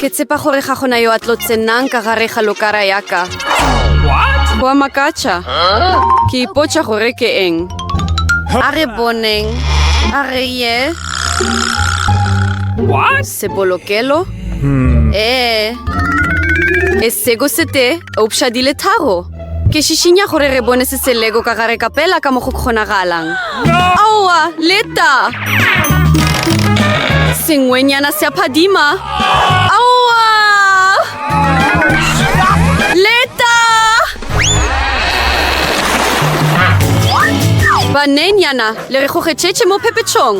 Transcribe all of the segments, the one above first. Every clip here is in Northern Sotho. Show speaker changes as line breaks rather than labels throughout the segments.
Ke tsepa gore ga gona yo a tlo tsenang ka gare ga lokara ya ka. Wa makatša. Ke ipotša gore ke eng. A re boneng. A re ye. Sebolokelo? Hmm. Ee. E sego sete, eupša di le tharo. Ke šišinya gore re bone se se lego ka gare kapela ka mo go kgonagalang. Aowa, leta! Sengwenyana se a phadima. Aowa! Leta! Banenyana, le re gogetšetše mo phephetšong.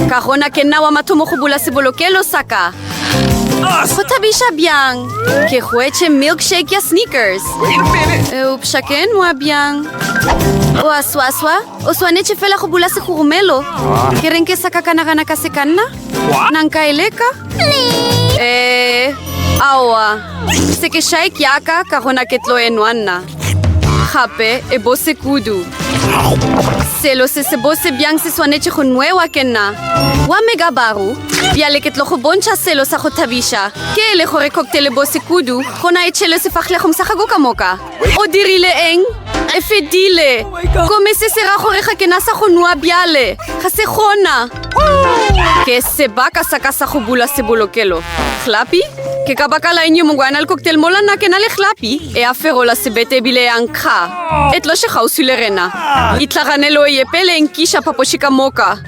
Ka gona ke nna wa mathomo go bula sebolokelo sa ka. go thabiša bjang ke goetše milkshake ya sneakers eupša ke nwa bjang oa swaswa o swanetše fela go bula segogomelo ke reng ke sa ka ka nagana ka sekanna na nka e leka ee aowa se ke shaik yaka ka gona ke tlo e nwa nna gape e bose kudu selo se se bose bjang se swanetše go nwewa ke nna wa megabaru bjale ke tlo go bontšha selo sa go thabiša ke e le gore cocktail e bose kudu gona e tšhelwe sefahlegong sa gago ka moka o dirile eng e fedile gomme se se ra gore ga ke na sa go nwa bjale ga se gona ke sebaka sa ka sa go bula sebolokelo clappy Ke ka baka la eng yo mongwe a na le cocktail mola nna ke na le hlapi e a ferola sebete ebile ya nkga e tloše kgauswi le rena itlhaganelo ye pele e nkiša phapoši ka moka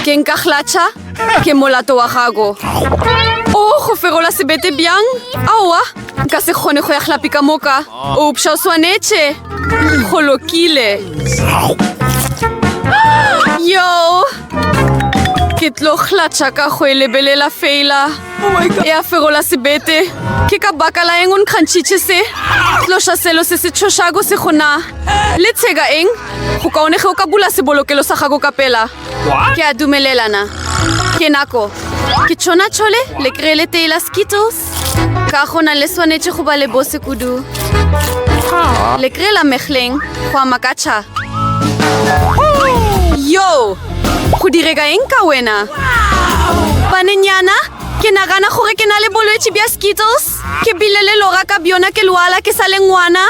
ke nka hlatšha ke molato wa gago o go ferola sebete bjang aowa nka se kgone go ya hlapi ka moka opša o swanetše go lokile yo ke tlo hlatša ka go e lebelela fela oh ya fegola sebete ke ka baka la eng o nkgantšhitše se tloša selo se se tšhošako se gona le tsheka eng go kaone ge o ka bula sebolokelo sa gago ka pela ke a dumelelana ke nako ke tšhona tšhole le kry le tee la skittles ka gona le swanetše go ba le bose kudu le kry la mehleng go ama ka tšha yo go direka eng ka wena banenyana ke nagana gore ke na le bolwetši bja skittles ke bile le lora ka bjona ke lwala ke sa le ngwana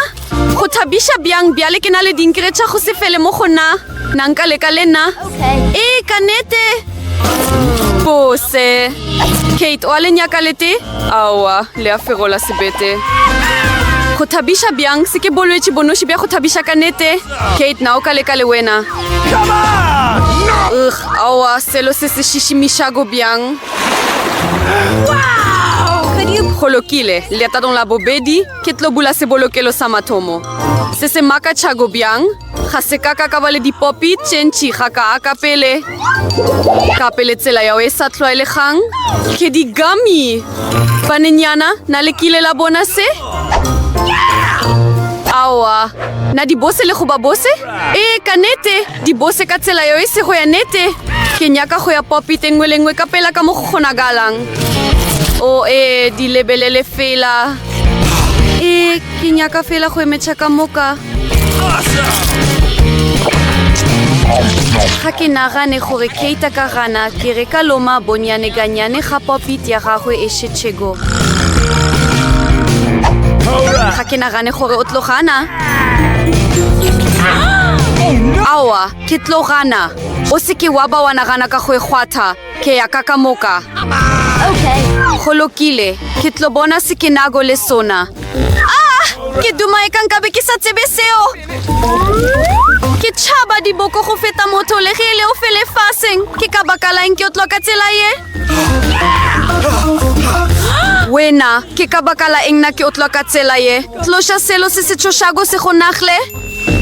Go thabiša bjang bjale ke na le dinkere tša go se fele mo go na na nka leka le nna e ka nete bose kate o a le nyaka lete aowa le a fegola sebete go thabiša bjang se ke bolwetši bonoši bja go thabiša ka nete kate na o ka leka le wena ug aowa selo se se šišimišako bjang go lokile leetadong la bobedi Ke tlo bula sebolokelo sa mathomo. Se se makatšhako bjang, ga se ka ka ka ba le dipopi tše ntši ga kaa ka pele. Ka pele tsela yao e sa tlwaelegang. Ke di gummy! Banenyana, na le kile la bona se? Aowa. Na di bose le go ba bose? Ee, ka nete! Dibose ka tsela yo e sego ya nete. Ke nyaka go ya popite nngwe le nngwe ka pela ka mo go kgonagalang. O e di lebelele fela. E ke nyaka fela go emetšha ka moka. ga ke nagane gore keita ka gana ke re ka loma bonyane ka nyane ga popit ya gagwe e šetšhego ga ke nagane gore o tlogana aowa ke tlo gana o se ke wa ba wa nagana ka go e kgwatha ke ya ka ka moka go lokile ke tlo bona se ke nago le sona ah ke duma e ka nkabe ke sa tsebe seo ke tšhaba diboko go feta motho le ge e le o fele faseng ke ka baka laeng ke o tloka tsela ye wena ke ka baka la eng na ke otlwa ka tsela ye tloša selo se se tshošako se go nagle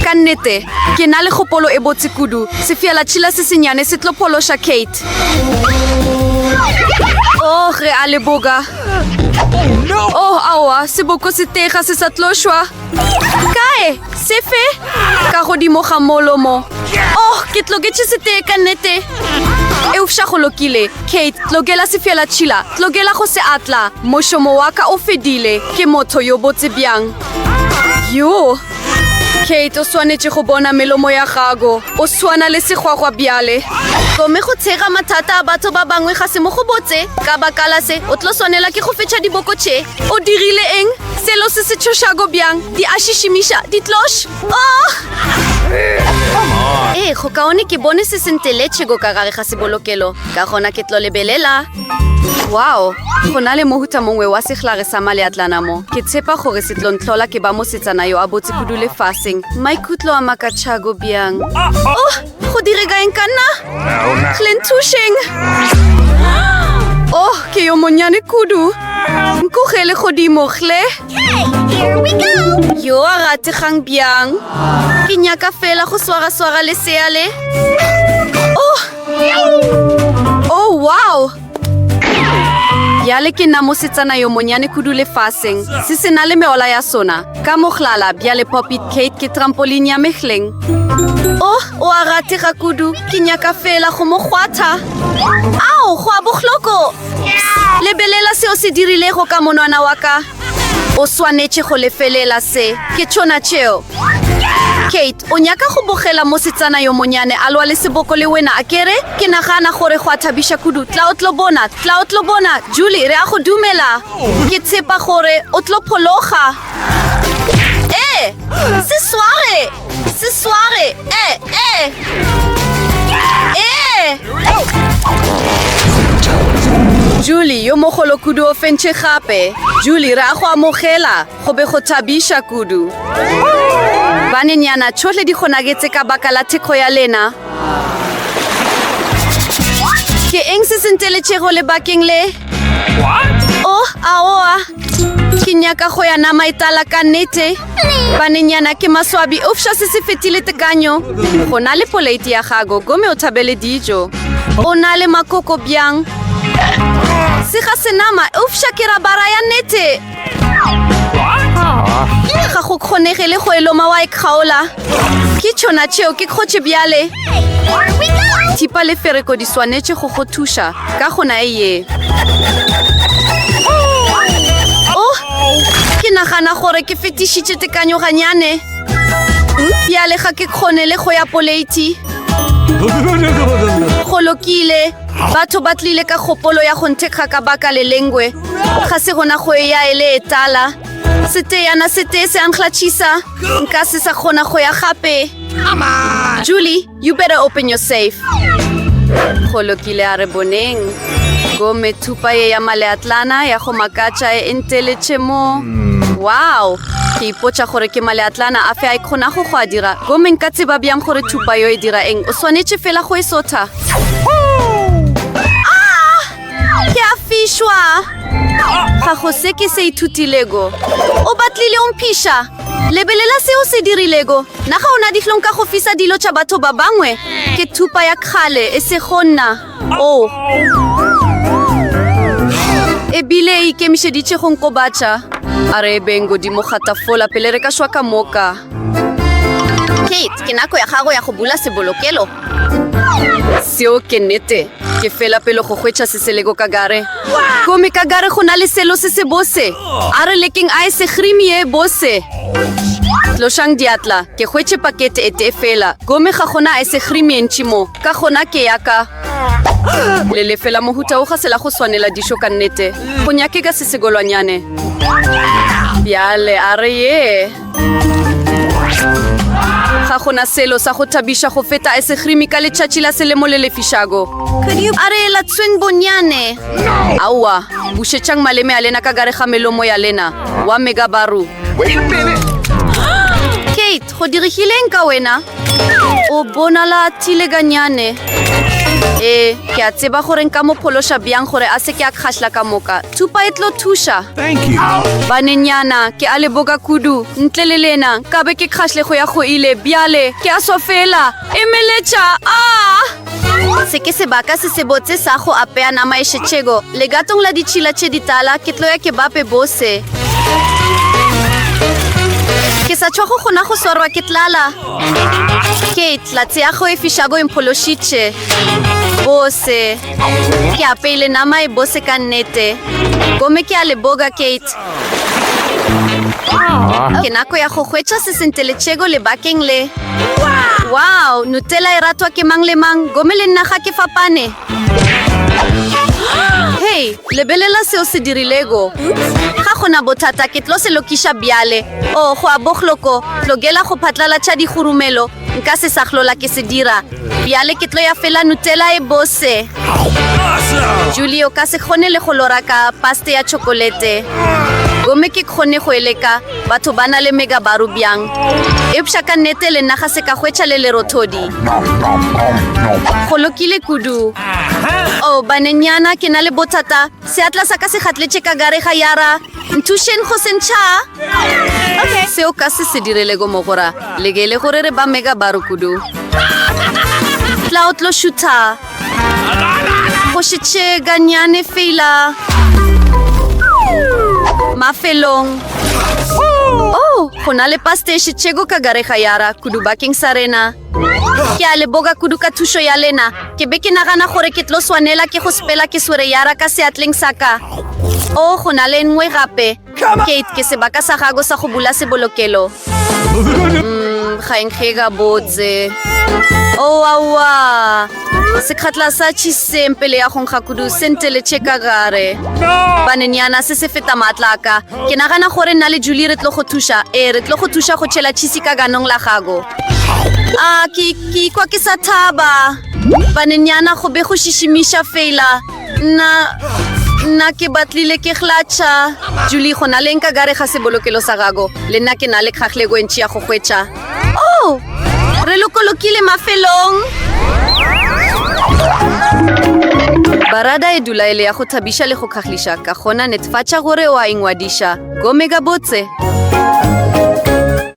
ka nnete ke na le kgopolo e botse kudu sefela tšhila se senyane se tlo phološa kate oh re a leboga oh aowa seboko se tega se sa tlošwa Kae? Sefe? Ka godimo ga molomo. Oh, ke tloketše setee ka nnete. Eupša go lokile. Kate, tlokela sefela tšhila. Tlokela go se atla. Mošomo wa ka o fedile. Ke motho yo botse bjang. Yoo. Kate, o swanetše go bona melomo ya gago. O swana le segwagwa bjale. Gomme go tshega mathata a batho ba bangwe ga se mo go botse. Ka bakala se, o tlo swanela ke go fetša diboko tše. O dirile eng? Selo se se tšhošago bjang, di a šišimiša, di tloš. Oh! Ee, go kaone ke bone se se nteletšego ka gare ga sebolokelo, ka gona ke tlo lebelela. Wow, go na le mohuta mongwe wa sehlare sa maleatlana mo. Ke tshepa gore se tlo ntlhola ke ba mosetsana yo a botse kudu lefaseng. Maikutlo a makatšhago bjang. Oh! Go direga eng ka nna? Hle nthušeng! Oh, ke yo monnyane kudu. Nkogele godimo, hle.
Yo a rategang
bjang. Ke nyaka fela go swara-swara leseale. Oh! Oh, wow! Bjale ke nna mosetsana yo monyane kudu lefaseng, se se na le meola ya sona. Ka mohlala, bjale Poppit Kate ke trampoline ya mehleng. Oh, o a ratega kudu. Ke nyaka feela go mo kgwatha. Ao, go a bohloko! Lebelela seo se dirilego ka monwana wa ka. O swanetše go lefelela se. Ke tšona tšeo. Kate, o nyaka go bogela mosetsana yo monyane a lwa le seboko le wena, a ke re? Ke nagana gore go a thabiša kudu. Tla o tlo bona. Tla o tlo bona. Julie, re a go dumela. Ke tshepa gore o tlo phologa. Ee! Se sware! Se sware! E! E! E! Julie, yo mogolo kudu o fentšhe gape. Julie, re a go amogela. Go be go thabiša kudu. Banenyana, tšhohle di kgonagetse ka baka la thekgo ya lena. Ke eng se se nteletšego lebakeng le? Oh, aowa. Ke nyaka go ya nama e tala ka nnete. Banenyana ke maswabi eupša se se fetile tekanyo. Go na le poleiti ya gago gomme o thabele dijo. O na le makoko bjang? Se ga senama eupša ke rabara ya nete. Ga go kgonege le go e loma wa e kgaola. ke tšona tšeo ke kgotše bjale thipa le fereko di swanetše go go thuša ka gona e ye o oh, ke nagana gore ke fetišitše tekanyoganyane bjale ga ke kgone le go ya poleiti go lokile batho ba tlile ka kgopolo ya go nthekga ka baka le lengwe ga se gona go e ya e le e tala seteyana se tee se ankglatšhisa nka se sa kgona go ya gape julie you better open your safe go lokile a re boneng gomme thupa ye ya maleatlana ya go makatša e nteletše mo wow ke ipotša gore ke maleatlana a fe a e kgonago go a dira gomme nka tseba bjang gore thupa yo e dira eng o swanetše fela go e sotha Ke a fišwa! Ga go se ke se ithutilego. O batlile o mphiša? Lebelela se o se dirilego. Na ga o na dihlong ka go fisa dilo tša batho ba bangwe? Ke thupa ya kgale, e sego nna. Oh. E bile e ikemišeditše go nkobatša. A re ebeng godimo ga tafola pele re ka šwa ka moka. Kate, ke nako ya gago ya go bula sebolokelo. Seo ke nete. Ke fela pelo go hwetša se se lego ka gare. Gomme ka gare go na le selo se se bose. A re lekeng a e segrimi e bose. Tlošang diatla. Ke hwetše pakete e tee fela. Gomme ga gona e segrimi e ntši mo. Ka gona ke ya ka. Le lefela mohuta o ga se la go swanela dišo ka nnete. Go nyakega se segolwanyane. Bjale a re ye. ga gona selo sa go thabiša go feta esegrimi ka letšatši la selemo le lefišago a re latsweng bonyane aowa bušetšang maleme a lena ka gare ga melomo ya lena wa megabaru kate go dirigileng ka wena o bonala thile ka nyane ee ke a tseba gore nka mo phološa bjang gore a se ke a kgahla ka moka thupa e tlo thuša banenyana ke a leboka kudu ntle le lena ka be ke kgahlego ya go ile bjale ke a sofela emeletša a ah! Se ke sebaka se sebotse sa go apea nama e šetšego. Legatong la ditšhila tše ditala ke tloya ke bape bose. Ke sa tšhwago gona go swarwa ke tlala. Kate, latse ya go e fišago e mphološitše. Bose. Ke apeile nama e bose ka nnete. Gomme ke a leboga, Kate. Ke nako ya go hwetša se se nteletšego lebakeng le. Wow, Nutella e ratwa ke mang le mang, gomme le nna ga ke fapane. Hei, lebelela seo se dirilego. Ga gona bothata, ke tlo se lokiša bjale. O, oh, go a bohloko, tlogela go phatlalatša dihurumelo. nka se sa hlola ke se dira bjale ke tlo ya fela nutela e bose julie o ka se kgone le go lora ka paste ya chokolete gomme ke kgone go eleka batho ba na le megabaru bjang eupša ka nnete le nna ga se ka hwetša le lerothodi go lokile kudu o oh, banenyana ke na le bothata Seatla sa ka se gatletše ka gare ga yara. Nthušeng go sentšha. Okay. Seo ka se se direlego mogora. Lekele gore re ba mega baro kudu. Tla o tlo šutha. Go šetše ganyane fela. Mafelong. Oh, go na le paste e šetšego ka gare ga yara kudu bakeng sa rena. Ke a leboga kudu ka thušo ya lena. Ke be ke nagana gore ke tlo swanela ke go sepela ke swere yara ka seatleng sa ka. O, go na le nngwe gape. Kate, ke sebaka sa gago sa go bula sebolokelo. Mm, ga e nkge gabotse. O, aowa. Sekgatla sa tšhiseng pele ya go nkga kudu se nteletše ka gare. Banenyana, se se feta maatla a ka. Ke nagana gore nna le Julie re tlo go thuša. Ee, re tlo go thuša go tšhela tšhisi ka ganong la gago. A, ke, ke ikwa ke sa thaba. Banenyana go be go šišimiša fela. Nna, nna ke batlile ke glatšha. Julie, go na leng ka gare ga sebolokelo sa gago? Le nna ke na le kgahlego e ntši ya go hwetša. Oh! Re lokolokile mafelong! Barada e dula e le ya go thabiša le go kgagliša, ka gona netefatša gore o a ingwadiša. Gome gabotse!